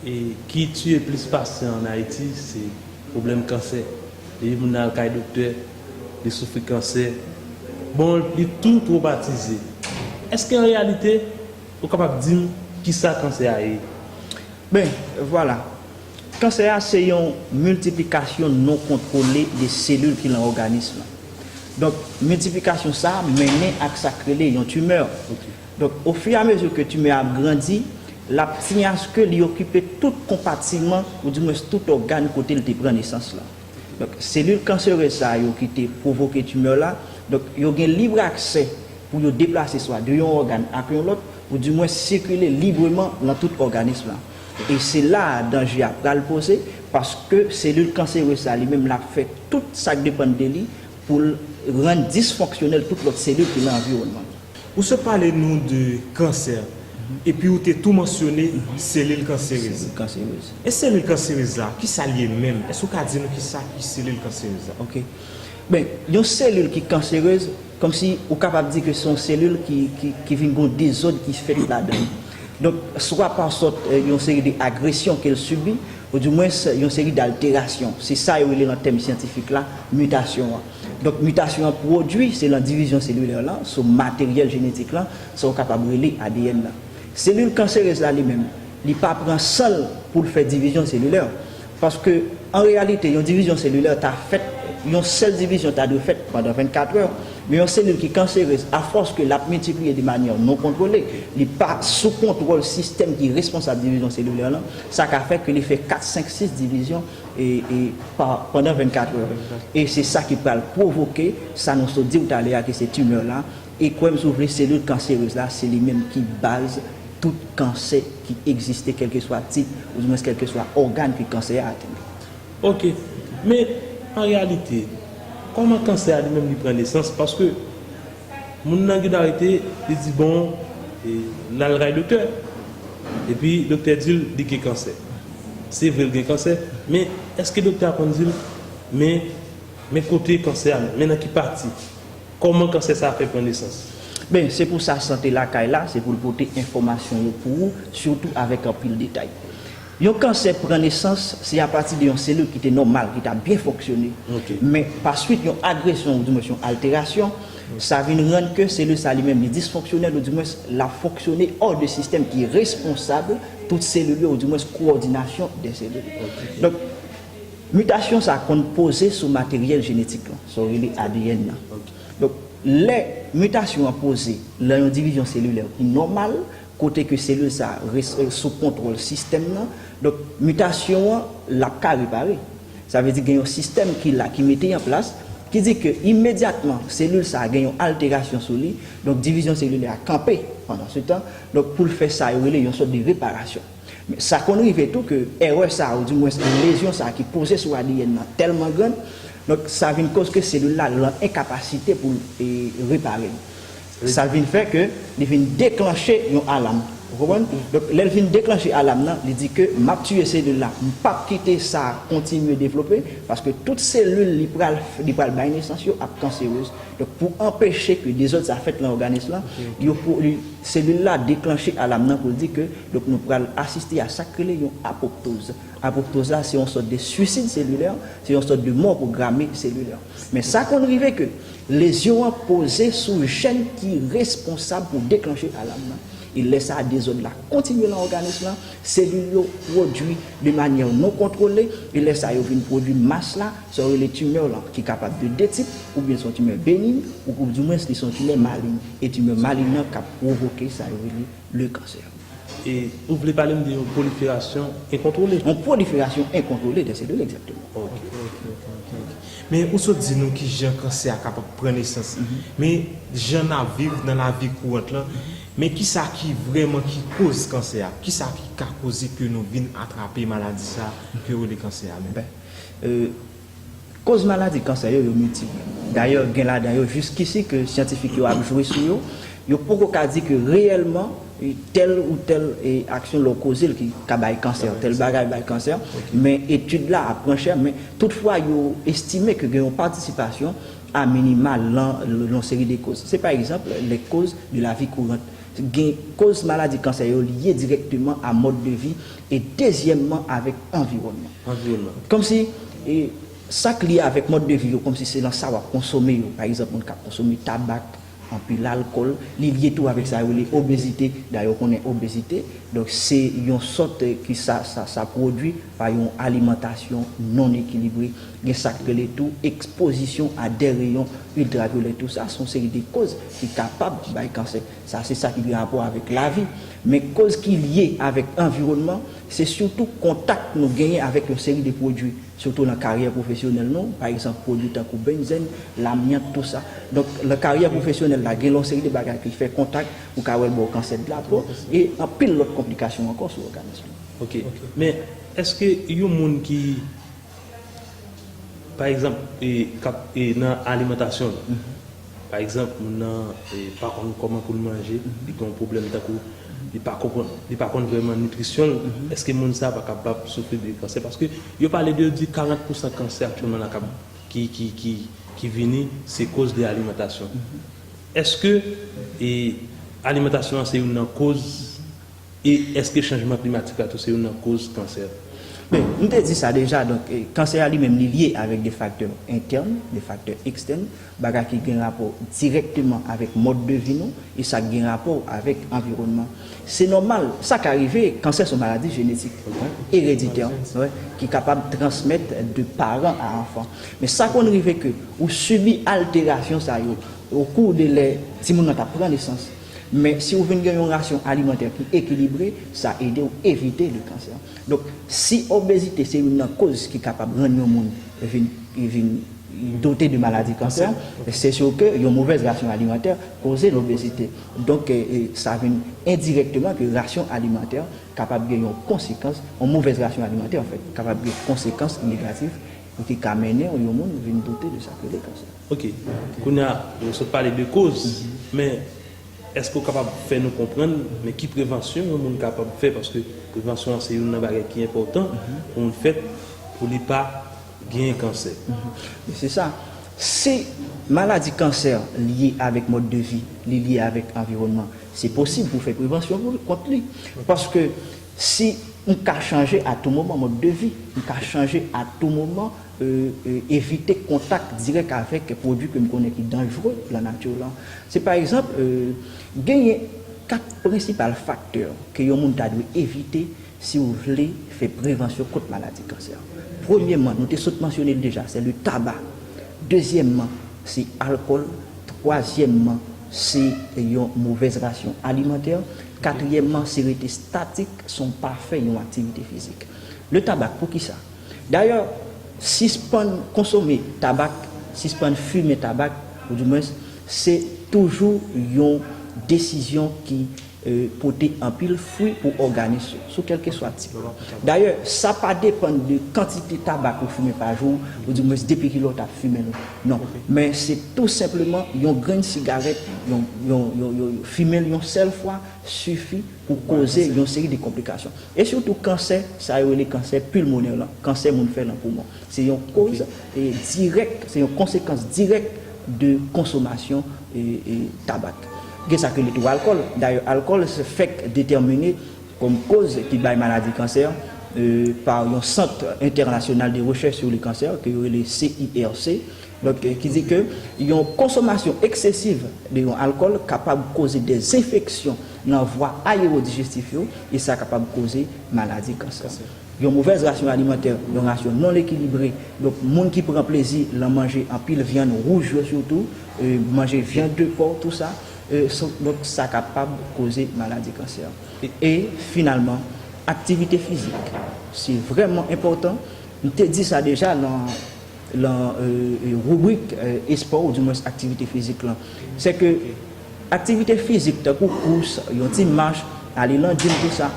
E ki tiye plis pasyan an Ayiti se pwoblèm kansè. Depi moun nan al kay doktè, li soufri kansè, bon li tou twomatize. Eske an reyalite ou kapab di m ki sa kansè a ye? Ben, vwala. Kansè a se yon miltiplikasyon non kontwole de selil ki lan òganis lan. Donk, miltiplikasyon sa a mennen ak sa k rele yon tumeur. Donk o fi a mezi ke timè a ap grandi, l ap siyen aske li okipe tout konpatiman ou di mwens tout ògàn kote li te pran nesans lan. Donk selil kanserez sa yo ki te pwovoke timè la, donk yo gen lib aksè pou yo deplase swa de yon ògàn ak yon lòt ou di mwens sikile libreman lan tout òganis lan. E se la a danje a pral poze paske selil kanserez sa li menm l ap fè tout sa k depann de li pou l rann disfonksyonèl tout lòt selil ki lan anviwònman l. Ou sot pale nou de kansè, epi ou te tou mansyone selil kanserez. Selil kanserez. E selil kanserez la, ki sa l ye menm? Èske ou ka di nou ki sa ki selil kanserez la? Ok. Ben, yon selil ki kanserez, kòmsi ou kapab di ke se yon selil ki vin gen yon dezòd ki fèt ladan li. Donk, swa pasòt yon seri de agresyon ke l sibi, ou di mwens yon seri dalterasyon. Se sa yo rele nan tèm syantifik la, mitasyon an. Donk mitasyon an pwodui se lan divizyon selilè lan sou materyèl jenetik lan, sa ou kapab rele adn nan. Selil kanserez la li menm, li pa pran san l pou l fè divizyon selilè. Paske an reyalite yon divizyon selilè ta fèt, yon sèl divizyon ta dwe fèt pandan 24 è, men yon selil ki kanserez a fòs ke l ap miltipliye de manyè non kontwole, li pa sou kontwòl sistèm ki responsab divizyon selilè lan, sa ka fè ke li fè 4, 5, 6 divizyon pandan 24 è. E se sa ki pral pwovoke sa nou sot diw talè a ki se tumeur la e kwèm si w vle selil kanserez la se li menm ki baz tout kansè ki egziste kèlkeswa tip ou di mwens kèlkeswa ògàn ke kansè a atenn. Ok. Men an reyalite, kòman kansè a li menm li pran nesans paske Moun nan gin arete li di bon lal kay doktè epi doktè dil li gin kansè se vre li gin kansè men eske doktè a konn dil men men kote kansè a men nan ki pati kòman kansè sa fè pran nesans. Ben se pou sa sante lakay la se poul pote enfòmasyon yo pou ou sitou avèk anpil detay. Yon kansè pran nesans se apati de yon selil ki te nòmal, ki ta byen fonksyone, men pa swit yon agresyon oudimwens yon alterasyon, sa vin rann ke selil sa li menm li disfonksyonèl oudimwens l ap fonksyone hors de sistèm ki responsab tout selil yo oudimwens kowòdinasyon de selil. Donk, mitasyon sa konn poze sou materyèl jenetik lan, sa yo rele adn nan. Donk, lè mitasyon an poze lan yon divizyon selilè ki nòmal, kote ke selil sa res sou kontwòl sistèm nan, donk mitasyon an l ap ka repare. Sa vle di gen yon sistèm ki la, ki mete an plas, ki di ke imedyatman selil sa gen yon alterasyon sou li, donk divizyon selilè a kanpe pandan se tan, donk pou l fè sa yo rele yon sòt de reparasyon. Men sa konn rive tou ke èrè sa ou dimwens lezyon sa ki poze sou adn nan tèlman grann, donk sa vin koz ke selil la lan enkapasite pou l repare li. Sa vin fè ke li vin deklanche yon alam. Ou konprann? Donk, lè l fin deklanche alam nan, li di ke m ap tiye selil la. M p ap kite sa a kontinye devlope, paske tout selil li pral, li pral bay nesans yo ap kanserez. Donk, pou anpeche ke dezòd sa a fèt lan òganis lan, yo pou, li, selil la deklanche alam nan pou l di ke, donk nou pral asiste a sa k rele yon apoptoz. Apoptoz la, se yon sòt de suicide cellulaire, se yon sòt de mò pwograme selilè. Men sa konn rive ke Lezyon an poze sou jèn ki responsab pou deklanche alam nan, e lè sa a dezòd la kontinye nan òganis lan, selil yo pwodui de manyè non kontwole, e lè sa yo vin pwodui mas la, sa yo rele tumeur lan, ki kapab de 2 tip, oubyen se yon tumeur benign, ou pou di mwens li se yon tumeur maligne, e tumeur maligne lan kap pwovoke sa yo rele. le cancer. E ou vle pale m de yon pwoliferasyon enkontwole? Yon pwoliferasyon enkontwole de selil, egzakteman. Ok, ok, ok, ok, ok. Men ou sot di nou ki jan kansè a kapab pran nesans. Men jan n ap viv nan lavi kourant lan, men ki sa ki vrèman ki koz kansè a? Ki sa ki ka koze ke nou vin atrape maladi sa a ke yo rele kansè a menm? Ben, Koz maladi kansè yo, yo miltip. Dayè gen ladan yo jiskisi ke syantifik yo ap jwe sou yo, yo poko ka di ke reyèlman tèl ou tèl aksyon lè w koze l ki ka bay kansè, tèl bagay bay kansè, men etid la ap pran chè, men tout fwa yo estime ke gen yon patisipasyon a minima lan yon seri de koz. Se pa egzanp lè koz de lavi kourant. Gen koz maladi kansè yo lye dirèkteman a mòd de vi, E dezyèmman avèk anviwònman. Anviwònman. Kòmsi, sa k lye avèk mòd de vi yo, kòmsi se nan sa w ap konsome yo. Pa egzanp, moun k ap konsome tabak, anpil alkòl, li lye tou avèk sa yo rele obezite. Dayè ou konnen obezite, donk se yon sòt ki sa, sa pwodui pa yon alimantasyon non ekilibre. Gen sa k rele tou ekspozisyon a dè reyon iltravyolè. Tou sa, s on seri de kòz ki kapab bay kansè. Sa se sa ki gen rapò avèk lavi. Men koz ki lye avèk anviwònman, se sitou kontak nou genyen avèk yon seri de pwodui, sitou lan karyè pwofesyonèl nou, pa egzanp pwodui tankou benzèn, lamyant, tou sa. Donk lan karyè pwofesyonèl la gen yon seri de bagay ki fè kontak, ou ka wè l ba w kansè de la po, e anpil lòt konplikasyon ankò sou òganis nou. Ok. Men, èske yon moun ki. Pa egzanp, kap nan alimantasyon l. Pa egzanp, moun nan pa konn kòman pou l manje, li gen yon pwoblèm tankou li pa konprann, li pa konn vrèman nitrisyon l, èske moun sa pa kapab soufri de kansè? Paske yo pale de yo di 40 pousan kansè aktyèlman la kap ki vini se koz de alimantasyon. Èske alimantasyon an se youn nan koz? E èske chanjman klimatik la tou se youn nan koz kansè? Ben, m te di sa deja, donk kansè a li menm li lye avèk de faktè entèn, de faktè ekstèn, bagay ki gen rapò dirèkteman avèk mòd de vi nou e sa gen rapò avèk anviwònman. Se nòmal, sa ka rive, kansè se yon maladi jenetik, ereditè, ki kapab transmèt de paran a anfan. Men sa konn rive ke ou sibi alterasyon sa yo okou de lè timoun nan t ap pran nesans. Men, si ou vin gen yon rasyon alimantè ki ekilibre, sa ede ou evite li kansè. Donk, si obezite se youn nan koz ki kapab rann yon moun vin vin dote de maladi kansè, se sur ke yon movèz rasyon alimantè koze lobezite. Donk, sa vin endirekteman ke rasyon alimantè kapab gen yon konsekans, yon movèz rasyon alimantè, anfèt, kapab gen konsekans negatif Ou te ka mennen yon moun vin doute de sa k rele kansè. Ok. Kounye a, nou sot pale de koz, men èske ou kapab fè nou konprann, men ki prevansyon yon moun kapab fè, paske prevansyon an se youn nan bagay ki enpòtan pou moun fè pou li pa gen kansè. Men se sa. Si maladi kansè lye avèk mòd de vi, li lye avèk anviwònman, se posib pou fè prevansyon kont li. Paske Si m ka chanje a tou moman mòd de vi, m ka chanje a tou moman evite kontak dirèk avèk pwodui ke m konnen ki danjre lan nati lan. Si pa egzanp, genyen 4 prensipal faktè ke yon moun ta dwe evite si ou vle fè prevansyon kont maladi kansè. Premyèman, nou te sot mansyone l deja, se le taba. Dezyèmman, se alkòl. Twazyèmman. Se yon movèz rasyon alimantè. Katriyèmman, se rete statik san pa fè yon aktivite fizik. Le tabac, poukisa? Dayè, sispann konsome tabak, sispann fimen tabak, ou di mwens, se toujou yon desizyon ki pote anpil fwi pou òganis yo, sou kèlkeswa tip yo. Dayè, sa pa depann de kantite tabak ou fimen pa jou, oudimwens depi ki lè ou t ap fimen l. Non. Men se tou senpleman yon grenn sigarèt, fimen l yon sèl fwa sifi pou koze yon seri de konplikasyon. E sitou kansè, sa yo rele kansè pilmonè lan, kansè moun fè nan poumon. Se yon koz dirèk, se yon konsekans dirèk de konsomasyon tabak. Gen sa ki rele tou alkòl. Dayè alkòl fèk detèmine kòm koz ki bay maladi kansè pa yon sant entènasyonal de rechèch sou le kansè ke yo rele CIRC. Donk ki di ke yon konsomasyon eksesiv de yon alkòl kapab koze de enfeksyon nan vwa ayewodijestif yo e sa kapab koze maladi kansè. Yon movèz rasyon alimantè, yon rasyon non ekilibre, donk moun ki pran plezi lan manje anpil vyann wouj yo sitou, manje vyann de pò, tou sa, donk sa kapab koze maladi kansè. E finalman, aktivite fizik, se vrèman enpòtan, m te di sa deja lan. lan ribrik espò ou di mwens aktivite fizik lan. Se ke aktivite fizik tankou kous, yon ti mach, ale lan gym tou sa,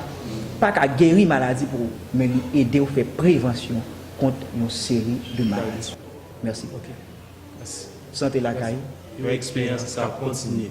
pa ka geri maladi pou ou, men li ede ou fè prevansyon kont yon seri de maladi. Mèsi. Sante lakay. Yon eksperyans ki ka kontinye.